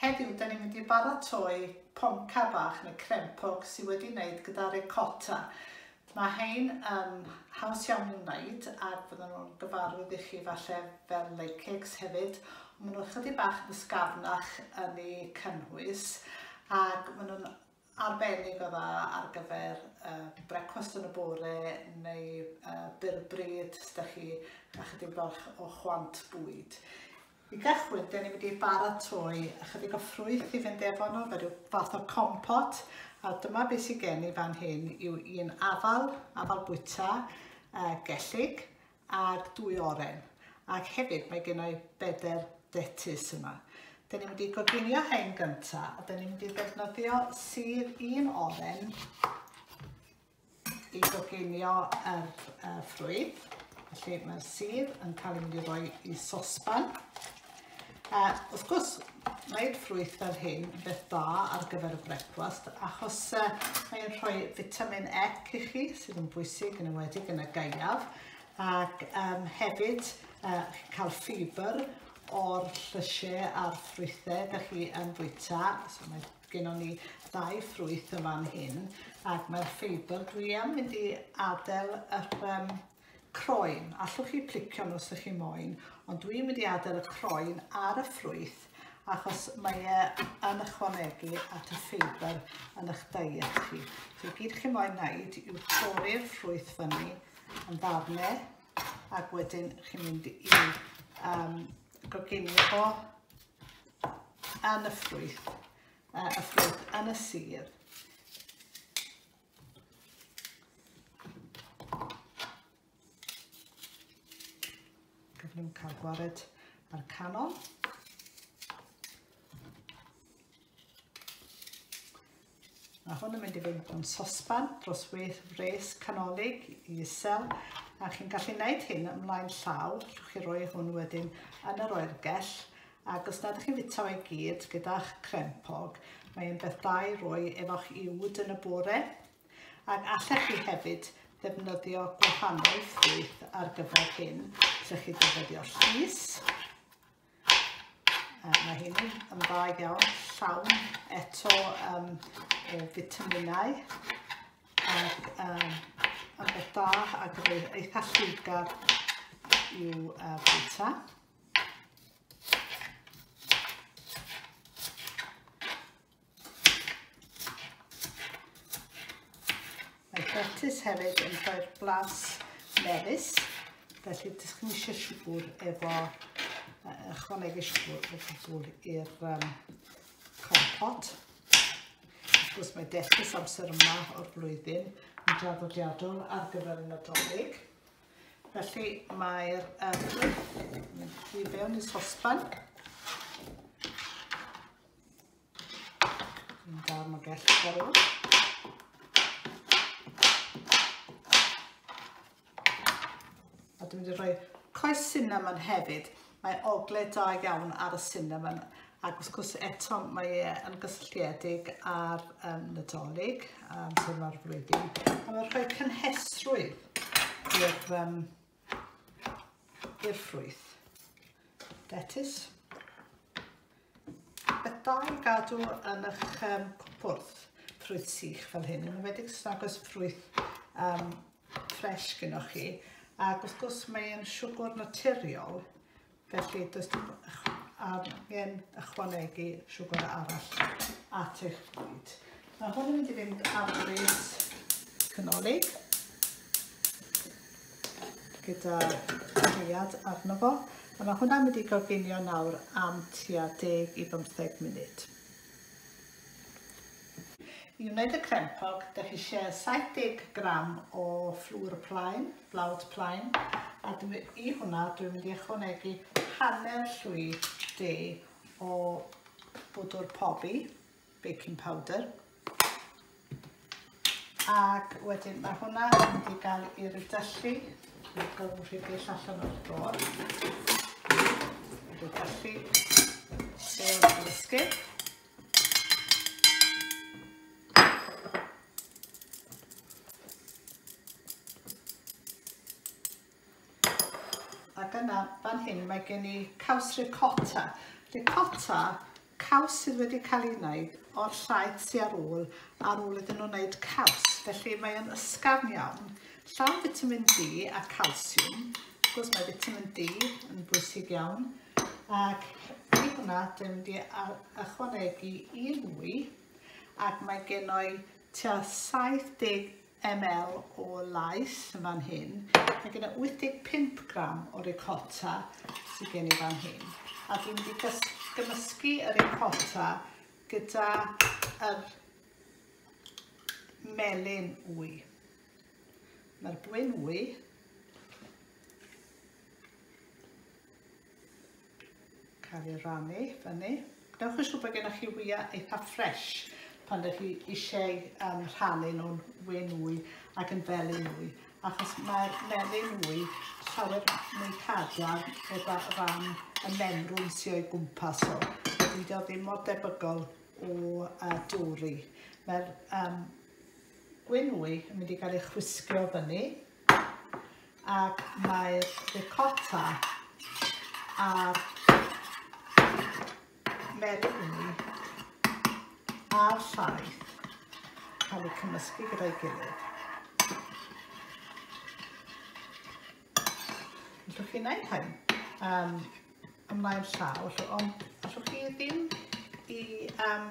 Heddiw, 'da ni'n mynd i baratoi ponca bach neu crempog sydd wedi wneud gyda ricotta. Mae hein yn haws iawn i'w wneud ac fydden nhw'n gyfarwydd i chi falle fel lake cakes hefyd. Maen nhw'n chydig bach yn ysgafnach yn eu cynnwys ac maen nhw'n arbennig o dda ar gyfer uh, brecwast yn y bore neu uh, byr bryd os da chi a chydig bach o chwant bwyd. I gychwyn, dyn ni wedi baratoi ychydig o ffrwyth i fynd efo nhw, fe rhyw fath o compot, a dyma beth sy'n gen i fan hyn yw un afal, afal bwyta, uh, gellig, ac dwy oren ac hefyd mae gen i bedair detus yma. Da ni'n mynd i goginio hein gynta a da ni'n mynd i ddefnyddio sydd un oren i goginio yr uh, ffrwyth. Felly mae'r sydd yn cael ei mynd i roi i sosban A wrth gwrs, mae'r ffrwyth fel hyn yn beth da ar gyfer y brecwast achos uh, mae'n rhoi vitamin E i chi sydd yn bwysig yn ymwedig yn y gaeaf ac um, hefyd uh, cael ffibr o'r llysiau a'r ffrwythau da chi yn bwyta. So mae gennym ni ddau ffrwyth yn fan hyn ac mae'r ffeibr dwi am mynd i adael yr um, Croen, allwch chi plicio nhw os ydych chi moyn, ond dwi'n mynd i adael y croen ar y ffrwyth achos mae e yn ychwanegu at y ffeibr yn eich diet chi. So gyd chi moyn wneud yw torri'r ffrwyth fyny yn ddarnau ac wedyn chi'n mynd i um, goginio fo yn y ffrwyth, uh, y ffrwyth yn y sir. Gyflym cael gwared ar canol. Mae hwn yn mynd i fynd o'n sosban dros wedd fres canolig i isel a chi'n gallu gwneud hyn ymlaen llaw, rhywch chi roi hwn wedyn yn yr oergell Ac os nad ych chi'n fwyta fe gyd gyda'ch crempog, mae e'n beth da i roi efo'ch iwd yn y bore, ac allech chi hefyd ddefnyddio gwahanol ffrwyth ar gyfer hyn. Allech chi ddefnyddio llus, mae hyn yn dda iawn, llawn eto um, o fitaminau, ac um, yn beth da ac yn eitha lliwgar i'w uh, bwyta. Hapus hefyd yn rhoi'r blas melus, felly dych chi'n eisiau siwgr efo, ychwanegu siwgr o gwbl i'r um, compot. Wrth gwrs mae dellus amser yma o'r flwyddyn yn draddodiadol ar gyfer y Nadolig. Felly mae'r ymglyff i fewn i sosban. Yn darn o gell garw. A dwi'n mynd i roi coes cinnamon hefyd. Mae ogle da iawn ar y cinnamon ac wrth gwrs eto mae e yn gysylltiedig â'r um, Nadolig a'r amser yma'r flwyddyn. A mae'n rhoi cynhesrwydd i'r um, i'r ffrwyth. Detis. Bethau gadw yn eich um, cwpwrdd ffrwyth sych fel hyn, yn ymwedig sy'n agos ffrwyth um, ffres gyda chi ac wrth gwrs mae e'n siwgr naturiol felly does dim angen ychwanegu siwgr arall at eich bwyd. Mae hwn yn mynd i fynd ar bryd canolig gyda rhiad arno fo a mae hwnna'n mynd i goginio nawr am tua 10 i 15 munud. I wneud y crempog, dych chi eisiau 70 gram o fflwr plaen, blawd plaen, a dwi, i hwnna dwi'n mynd i ychwanegu hanner llwy de o bwdwr pobi, baking powder, Ac wedyn mae hwnna yn mynd i gael ei rydyllu. Mae gorfod rhedeg allan o'r dôr. Rydyllu. Dôr yn ysgu. Ac yna, fan hyn, mae gen i caws ricotta. Ricotta, caws sydd wedi cael ei wneud o'r llaeth sy'n ar ôl, ar ôl iddyn nhw'n wneud caws. Felly mae'n ysgafn iawn, llawn vitamin D a calsiwm. Wrth gwrs mae vitamin D yn bwysig iawn. Ac i hwnna, dwi'n mynd i ychwanegu un mwy. Ac mae gen i tua 70 ml o laeth yn fan hyn. Mae gen i 85 gram o ricotta sydd gen i fan hyn. A dwi'n wedi gymysgu y ricotta gyda yr melyn wy. Mae'r bwyn wy Cael ei rannu fyny. Dewch yn siŵr bod gennych chi wyau eitha ffres pan ydych chi eisiau um, rhannu nhw'n we nwy ac yn felu nwy, achos mae'r melyn nwy llawer mwy cadarn gyda ran y memrwn sy'n o'i gwmpas o. Dydy o ddim mor debygol o uh, dwri. Mae'r um, gwe nwy yn mynd i gael ei chwisgio fyny ac mae'r ricotta a'r merini a'r llaeth cael eu cymysgu gyda'i gilydd. Allwch chi wneud hyn? Um, ymlaen llaw, felly, ond allwch chi ddim i um,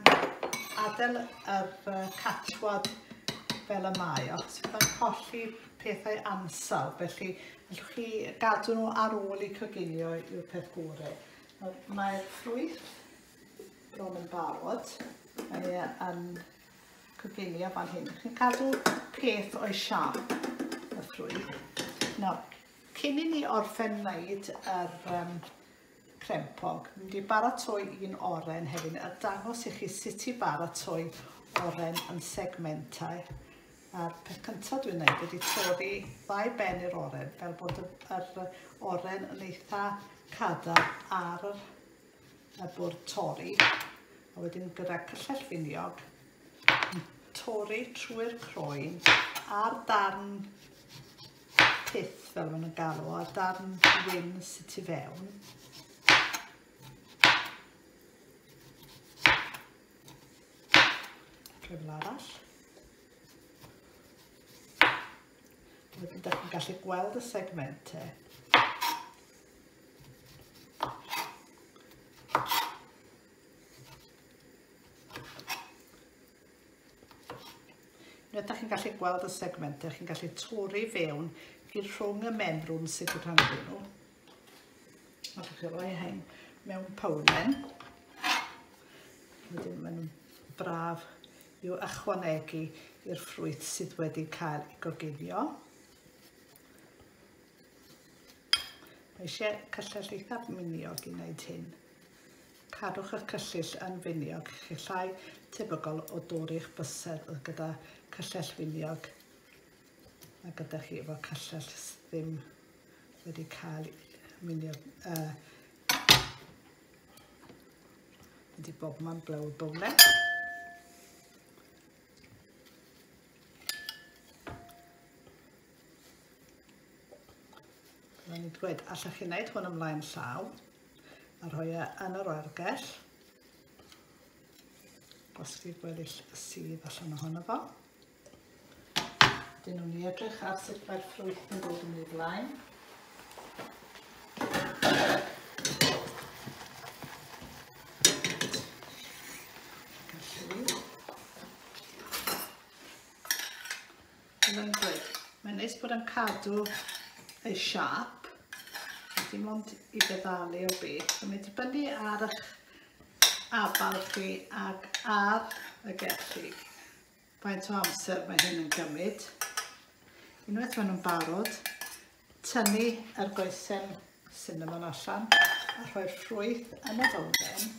adael yr uh, catwad fel y mae, os byddai'n colli pethau ansawdd, felly allwch chi gadw nhw ar ôl i coginio yw'r peth gore. Mae'r ffrwyth bron yn barod, mae e yn coginio fan hyn. Chi'n cadw peth o'i siarp y ffrwyth. Nawr, Cyn i ni orffen wneud yr um, crempog, mynd i baratoi un oren hefyd a dangos i chi sut i baratoi oren yn segmentau. A'r peth cyntaf dwi'n gwneud ydy torri ddau ben i'r oren fel bod yr oren yn eitha cadar ar yr y bwrdd torri a wedyn gyda cyllell finiog torri trwy'r croen a'r darn pith fel maen nhw'n galw a'r darn wyn sydd tu fewn cyfle arall wedyn ydych chi'n gallu gweld y segmentau Rydych chi'n gallu gweld y segmentau, chi'n gallu torri fewn i rhwng y menrwn sydd yn rhan nhw. A chi'n gallu rhoi hyn mewn powlen. Wedyn maen nhw'n braf i'w ychwanegu i'r ffrwyth sydd wedi cael ei goginio. Mae eisiau cyllell eithaf miniog i wneud hyn. Cadwch eich cyllyll yn finiog, chi llai tebygol o dorri'ch bysedd oedd gyda cyllell finiog a gyda chi efo cyllell ddim wedi cael miniog, uh, wedi bob man blawd bowlen. Mae'n i'n dweud, allech chi wneud hwn ymlaen llaw a rhoi e yn yr oergell. Gosodi'r gweddill sydd allan ohono fo. Dyn nhw'n i edrych ar sut mae'r ffrwyth yn dod yn ei blaen. Fel o'n i'n dweud, mae'n neis bod yn cadw ei siap, dim ond i feddalu o beth. Mae'n mynd dibynnu ar eich abal chi ac ar y gellu. Faint o amser mae hyn yn gymryd. Unwaith maen nhw'n barod, tynnu yr goesen cinnamon allan a rhoi'r ffrwyth yn y fowlen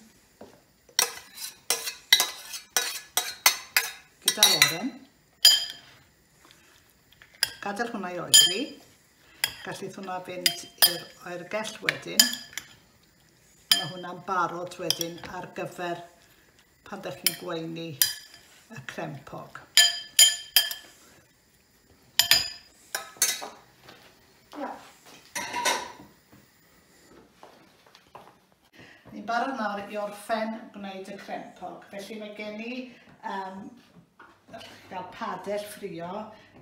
gyda'r oren. Gadael hwnna i oeri. Gallith hwnna fynd i'r oergell wedyn. Mae hwnna'n barod wedyn ar gyfer pan ydych chi'n gweini y crempog. Ni'n barod nawr i orffen gwneud y crempog, felly mae gen i um, allwch chi gael padell ffrio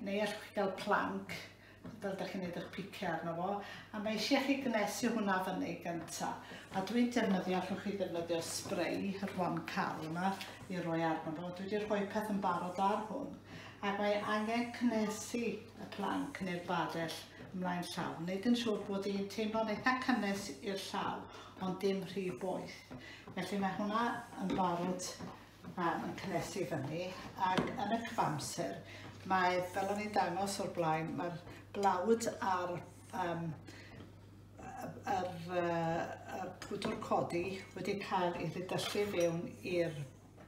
neu allwch chi gael planc fel da chi'n neud eich piciau arno fo a mae eisiau chi gnesu hwnna fyny gyntaf a dwi'n defnyddio allwch chi ddefnyddio spray yr one cal yma i roi arno fo dwi wedi rhoi peth yn barod ar hwn ac mae angen cnesu y planc neu'r badell ymlaen llaw, wneud yn siŵr bod hi'n teimlo'n eitha cynnes i'r llaw, ond dim rhy boeth. Felly mae hwnna yn barod um, yn cynnesu fyny, ac yn y cyfamser, mae, fel o'n i'n dangos o'r blaen, mae'r blawd a'r um, yr, uh, pwdwr codi wedi cael ei ddidyllu fewn i'r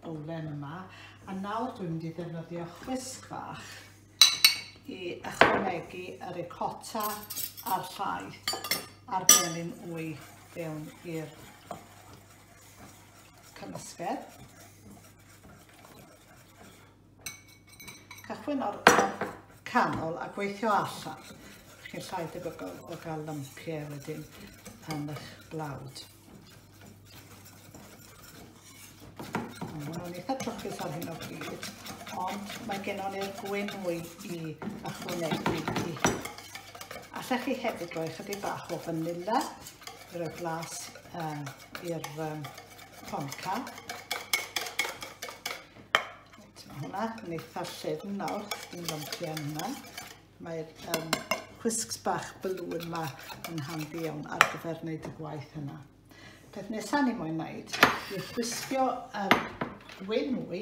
bowlen yma a nawr dwi'n mynd i ddefnyddio chwisg fach i ychwanegu y ricotta a'r llaeth a'r gelyn wy fewn i'r cymysgedd. Cychwyn o'r canol a gweithio allan. Chi'n llai debygol o gael lympiau wedyn yn eich blawd. Mae'n eitha trwchus ar hyn o bryd, ond mae gennon ni'r gwyn mwy i ychwanegu i hyn. Allech chi hefyd roi chydig bach o vanilla i roi blas um, i'r um, tonca. Hwna, yn eitha llefn nawr, yn lympi am hwnna. Mae'r um, whisks bach balloon yma yn handi iawn ar gyfer wneud y gwaith yna. Peth nesaf ni moyn wneud yw chwisgio um, wyn mwy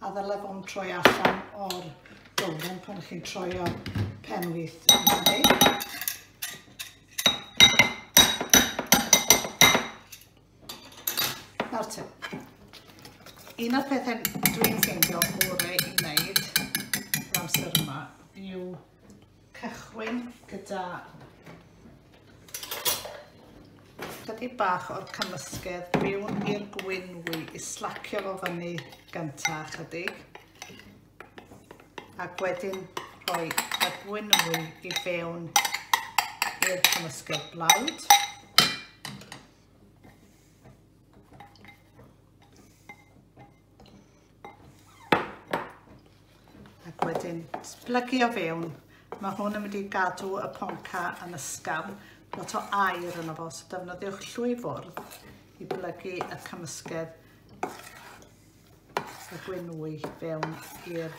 A ddyle fo'n troi allan o'r dolen pan chi'n troio pen wyth. Nawr te, un o'r pethau dwi'n ffeindio gorau i wneud yr amser yma yw cychwyn gyda chydig bach o'r cymysgedd mewn i'r gwynwy i slacio fo fyny gyntaf chydig ac wedyn rhoi y gwynwy i fewn i'r cymysgedd blawd. Ac wedyn splygu o fewn. Mae hwn yn mynd i gadw y ponca yn ysgafn, lot o air yno fo, so defnyddiwch llwy fwrdd i blygu y cymysgedd y gwynwy fewn i'r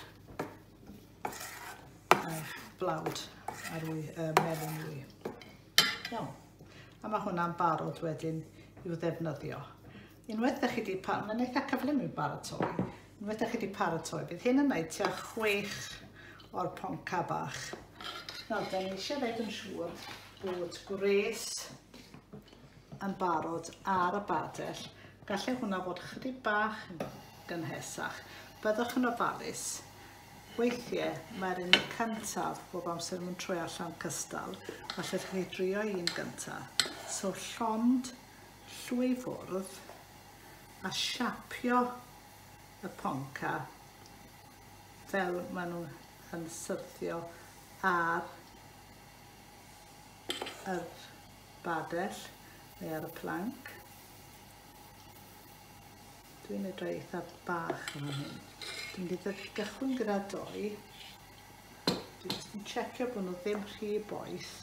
blawd a'r wy, y melyn wy. Iawn. A mae hwnna'n barod wedyn i'w ddefnyddio. Unwaith da chi wedi paratoi, mae'n eitha cyflym i'w baratoi, unwaith da chi wedi paratoi, bydd hyn yn wneud tua chwech o'r ponca bach. Nawr, da ni eisiau wneud yn siŵr bod gwres yn barod ar y badell. Gallai hwnna fod chydig bach yn gynhesach. Byddwch yn ofalus. Weithiau mae'r un cyntaf bob amser yn troi allan cystal. Felly chi drio un gyntaf. So llond llwyfwrdd a siapio y ponca fel maen nhw yn syrthio ar yr badell neu ar y planc. Dwi'n mynd roi eitha bach yn fan hyn. Dwi'n mynd i gychwyn gyda doi. Dwi'n just yn checio bod nhw ddim rhy boeth.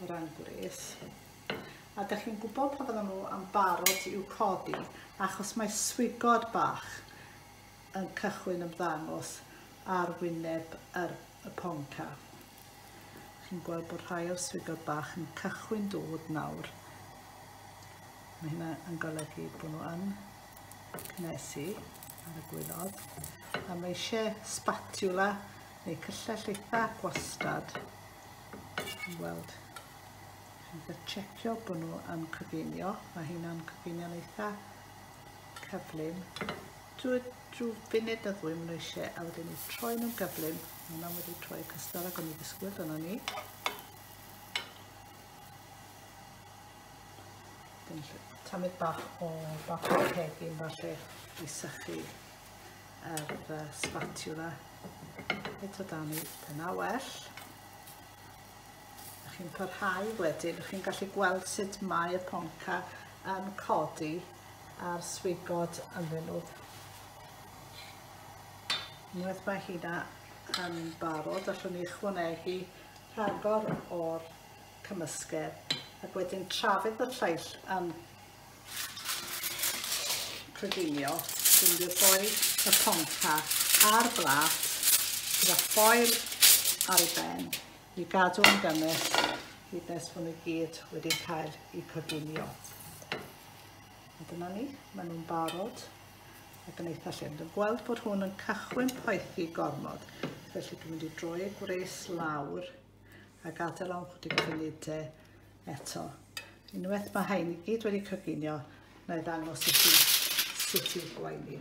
o ran gwres. A da chi'n gwybod pa fydden nhw am barod i'w codi, achos mae swigod bach yn cychwyn ymddangos ar wyneb yr, y ponca. Chi'n gweld bod rhai o'r swigod bach yn cychwyn dod nawr. Mae hynna yn golygu bod nhw yn cnesu ar y gwylod. A mae eisiau spatula neu cyllell eitha gwastad Chi'n gweld. Chi'n gallu checio bod nhw yn coginio. Mae hynna'n coginio'n eitha cyflym. Drwy, drwy funud na ddwy maen nhw eisiau a wedyn ni troi nhw'n gyflym. Mae hwnna wedi troi cystal ag o'n i ddisgwyl dyna ni. Dyn ni tamid bach o bach o cegin falle i sychu yr uh, spatula. Eto dan i dyna well. Ydych chi'n parhau wedyn, ydych chi'n gallu gweld sut mae y ponca yn codi a'r swigod ynddyn nhw. Unwaith mae hynna yn barod, allwn ni ychwanegu rhagor o'r cymysgedd ac wedyn trafod y lleill yn coginio unrhyw foel y ponca a'r blat gyda ffoil ar ei ben i gadw yn gymell hyd nes bod nhw gyd wedi cael eu coginio. A dyna ni, maen nhw'n barod ac yn eitha llym. Dwi'n gweld bod hwn yn cychwyn poethi gormod, felly dwi'n mynd i droi gwres lawr a gadael am chydig funud te eto. Unwaith mae hein i gyd wedi coginio, na i ddangos i chi sut i'w gwaenu.